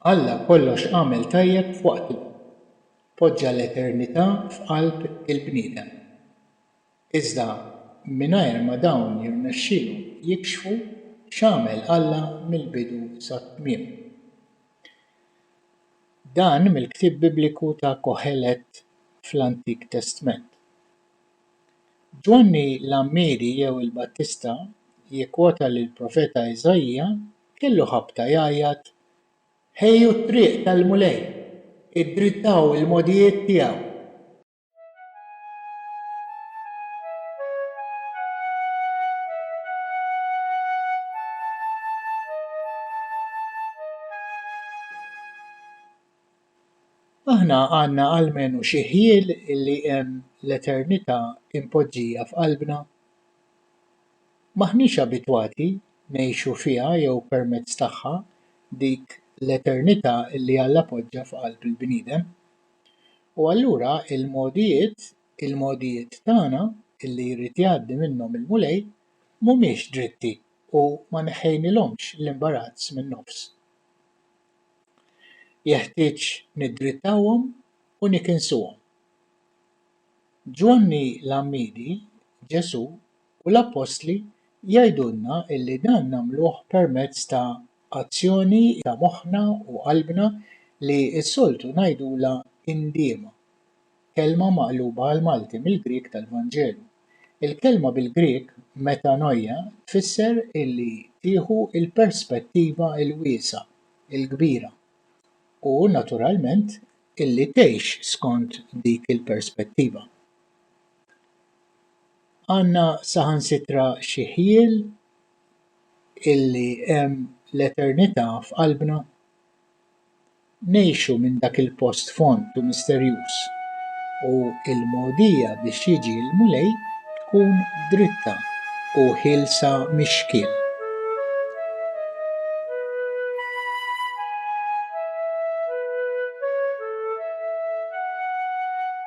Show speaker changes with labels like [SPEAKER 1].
[SPEAKER 1] Alla kollox għamel tajjeb f'waqtu. Poġġa l-eternità f'qalb il-bniedem. Iżda mingħajr ma dawn jirnexxielhom jikxfu x'għamel Alla mill-bidu sat-tmiem. Dan mill-ktieb Bibliku ta' Kohelet fl-Antik Testment. Ġwanni l-Għammiedi jew il-Battista jikkwota li l-profeta Iżaija kellu ħabta jgħajjat, Ħejju t-triq tal-Mulej, iddrittaw il-mogħdijiet tiegħu. Aħna għandna almenu xi ħjiel li hemm l-eternità impoġġija f'qalbna. M'aħniex abitwati ngħixu fiha jew permezz tagħha dik l-eternità li Alla poġġa f'qalb il-bniedem. U allura l-mogħdijiet, il-mogħdijiet tagħna, li jrid jgħaddi minnhom il-Mulej, mhumiex dritti u ma neħħejnilhomx l-imbarazz min-nofs. Jeħtieġ niddrittawhom u nikinsuhom. Ġwanni l-Għammiedi, Ġesù, U l-Appostli jgħidulna illi dan nagħmluh permezz ta' azzjoni ta' moħħna u qalbna li s-soltu ngħidulha indiema, kelma maqluba għall-Malti mill-Grieg tal-Vanġelu. Il-kelma bil-Grieg metanoia tfisser illi tieħu l-perspettiva l-wiesgħa, il-kbira, u naturalment illi tgħix skont dik il-perspettiva. Għandna saħansitra xi ħjiel illi hemm l-eternità f'qalbna. Ngħixu minn dak il-post fond u misterjuż, u l-mogħdija biex jiġi l-Mulej tkun dritta u ħielsa mix-xkiel.